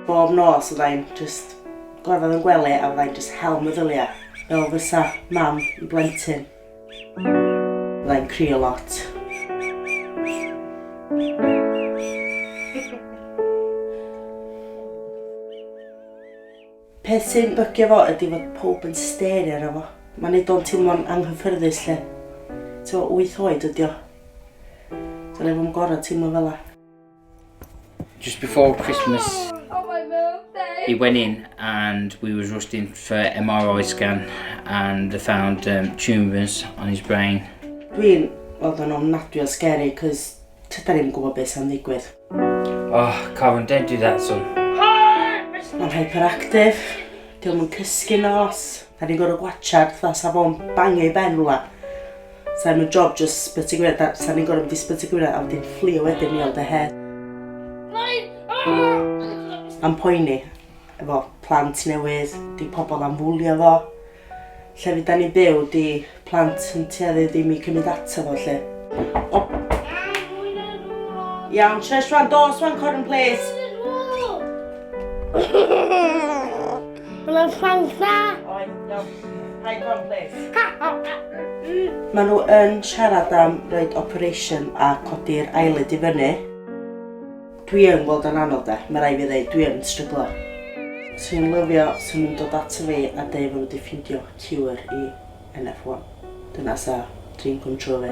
Bob nos fydda i'n jyst gorfod fy ngwely a fydda i'n jyst hel meddylia, fel fysa mam i blentyn. Fydda i'n crio lot. Peth sy'n bygio fo ydy fod pob yn stario ar fo. Mae'n neud o'n teimlo'n anghyffyrddus lle. T'mo' wyth oed ydi o. Dylia fo'm gor'o' teimlo fel 'a. Just before Christmas, oh, he went in and we was rushed for MRI scan and they found um, tumours on his brain. Dwi'n weld o'n ofnadwy o scary, cos tyda ni'n gwybod beth sy'n ddigwydd. Oh, Karen, don't do that, son. Mae'n hyperactive, diolch yn cysgu nos. Da ni'n gorau gwachad, dda safon bangio i ben rhywle. Sa i'm yn job just spyt y gwynedd, sa ni'n gorau mynd i spyt y gwynedd a wedyn fflio wedyn i ond y her. Am poeni, efo plant newydd, di pobl am fwlio fo. Lle fi da ni'n byw, di plant yn tueddu ddim i cymryd ato fo lle. O. Iawn, shush rwan, dos rwan Corin, please. Mae salsa. Oes, iawn. Rhaid o'n plis. Mae nhw yn siarad am roed operation a codi'r eyelid i fyny. Dwi yn gweld o'n anodd de, mae rai fi ddeud, dwi yn stryglo. Swn i'n lyfio, swn i'n dod ato fi a dweud fod wedi ffindio cure i NF1. Dyna sa dream come true fi.